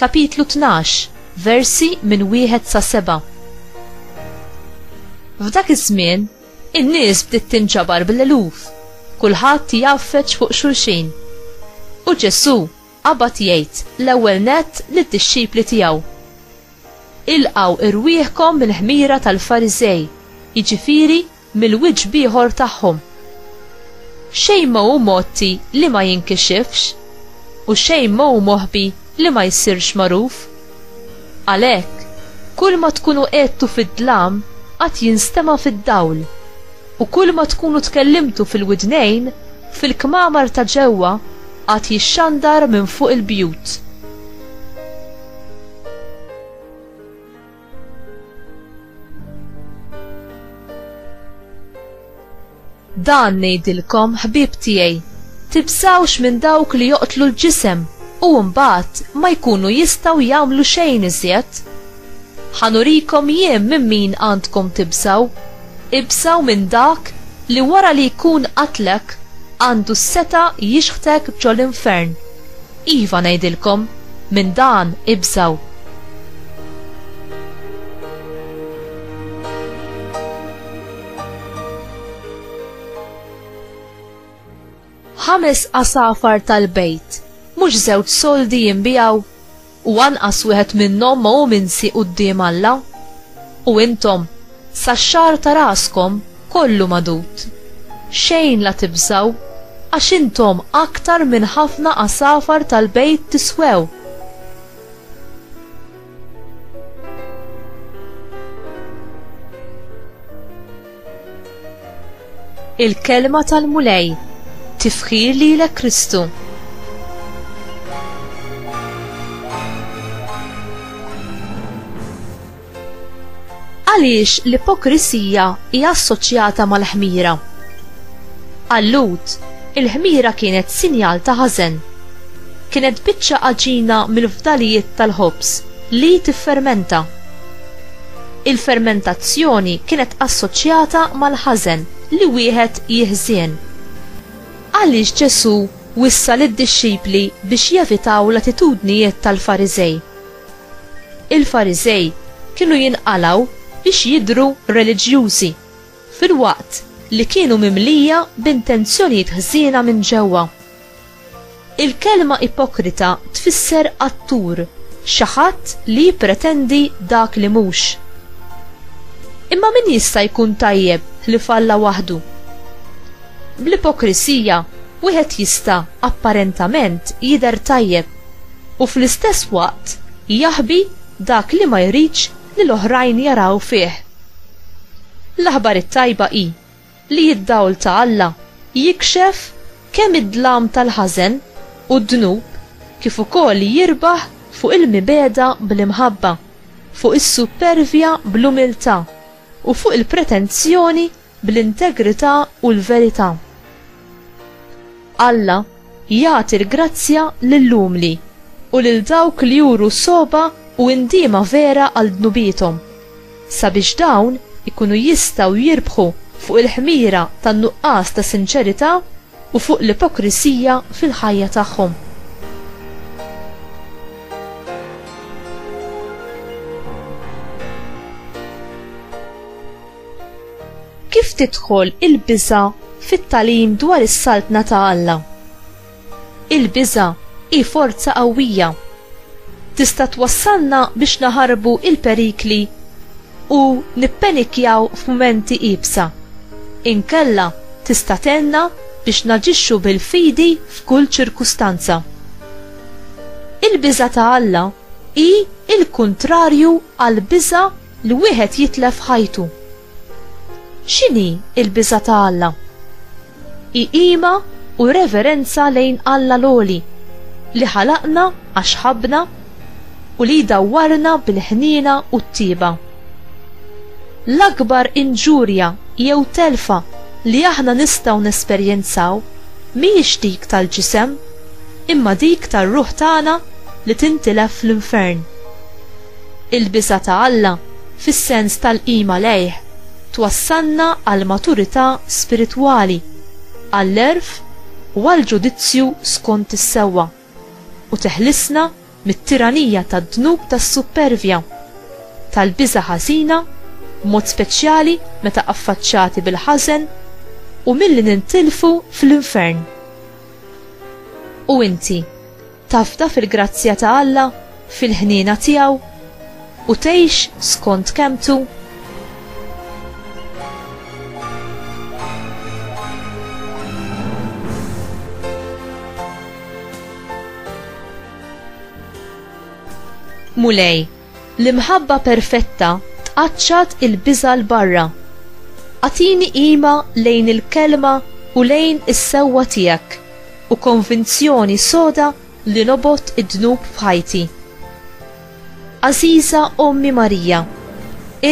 Kapitlu Tnax, Versi minn Wieħed sa Seba' F'dak iż-żmien, in-nies bdiet tinġabar bl-eluf, kulħadd jgħaffeġ fuq xulxin. U Ġesù qabad jgħid l-ewwel nett lid-dixxipli tiegħu, Ilqgħu rwieħkom mill-ħmira tal-Fariżej, jiġifieri mill-wiċċ b'ieħor tagħhom. Xejn ma hu mgħotti li ma jinkixifx, u xejn ma hu moħbi li ma jsirx magħruf. Għalhekk, kulma tkunu għedtu fid-dlam għad jinstema' fid-dawl, u kulma tkunu tkellimtu fil-widnejn, fil-kmamar ta' ġewwa għad jixxandar minn fuq il-bjut. Dan ngħidilkom ħbieb tiegħi, tibżawx minn dawk li joqtlu l-ġisem u mbagħad ma jkunu jistgħu jagħmlu xejn iżjed. Ħanurikom jien minn min għandkom tibżaw, ibżaw minn dak li wara li jkun qatlek għandu s-seta' jixħtek ġol-infern. Iva ngħidilkom, Minn dan ibżgħu. Ħames għasafar tal-bejt, mhux żewġ soldi jinbiegħu? U anqas wieħed minnhom ma hu minsi quddiem Alla? U intom, Sax-xagħar ta' raskom kollu magħdud. Xejn la tibżgħu, għax intom aktar minn ħafna għasafar tal-bejt tiswew. Il-Kelma tal-Mulej Tifħir lilek Kristu! Għaliex l-ipokrisija hija assoċjata mal-ħmira? Għal Lut, il-ħmira kienet sinjal ta' ħażen. Kienet biċċa għaġina mill-fdalijiet tal-ħobż li tiffermenta. Il-fermentazzjoni kienet assoċjata mal-ħażen li wieħed jiħżien. Għaliex Ġesù wissa lid-dixxipli biex jevitaw l-attitudnijiet tal-Fariżej? Il-Fariżej kienu jinqalgħu biex jidhru reliġjużi, filwaqt li kienu mimlija b'intenzjonijiet ħżiena minn ġewwa. Il-kelma ipokrita tfisser attur, xi ħadd li jippretendi dak li mhux. Imma min jista' jkun tajjeb ħlief Alla waħdu? Bl-ipokrisija, wieħed jista' apparentament jidher tajjeb. u fl-istess waqt jaħbi dak li ma jridx li l-oħrajn jaraw fih. L-aħbar it-tajba hi li d-dawl ta' Alla jikxef kemm id-dlam tal-ħażen u d-dnub kif ukoll jirbaħ fuq il-mibegħda bl-imħabba, fuq is-suppervja bl-umiltà, u fuq il-pretenzjoni bl-integrità u l-verità. Alla jagħti l-grazzja lill-umli u lil dawk li juru sogħba u indiema vera għal dnubiethom, sabiex dawn ikunu jistgħu jirbħu fuq il-ħmira tan-nuqqas ta' sinċerità, u fuq l-ipokrisija fil-ħajja tagħhom. Kif tidħol il-biża' fit-tagħlim dwar is-Saltna ta' Alla? Il-biża' hi forza qawwija. Tista' twassalna biex naħarbu l-perikli u nippenikkjaw f'mumenti iebsa. Inkella tista' tgħinna biex naġixxu bil-fidi f'kull ċirkustanza. Il-biża' ta' Alla hi l-kuntrarju għall-biża' li wieħed jitlef ħajtu. X'inhi l-biża' ta' Alla? Hi qima u reverenza lejn Alla l-Għoli, li ħalaqna għax ħabbna u li jdawwarna bil-ħniena u t-tieba. L-akbar inġurja jew telfa li aħna nistgħu nesperjenzaw mhijiex dik tal-ġisem, imma dik tar-ruħ tagħna li tintilef fl-infern. Il-biża' ta' Alla, fis-sens tal-qima lejh, twassalna għall-maturità spiritwali, għall-għerf u għall-ġudizzju skont is-sewwa, u teħlisna mit-tiranija tad-dnub tas-suppervja, tal-biża' ħażina, b'mod speċjali meta affaċċati bil-ħażen, u milli nintilfu fl-infern. U inti? Tafda fil-grazzja ta' Alla, fil-ħniena tiegħu, u tgħix skont kelmtu? Mulej, L-imħabba perfetta tqaċċat il-biża' 'l barra. Agħtini qima lejn il-Kelma u lejn is-sewwa tiegħek u konvinzjoni soda li nobgħod id-dnub f'ħajti. Għażiża Ommi Marija,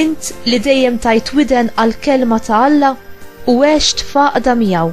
int li dejjem tajt widen għall-Kelma ta' Alla u għext f'għaqda miegħu,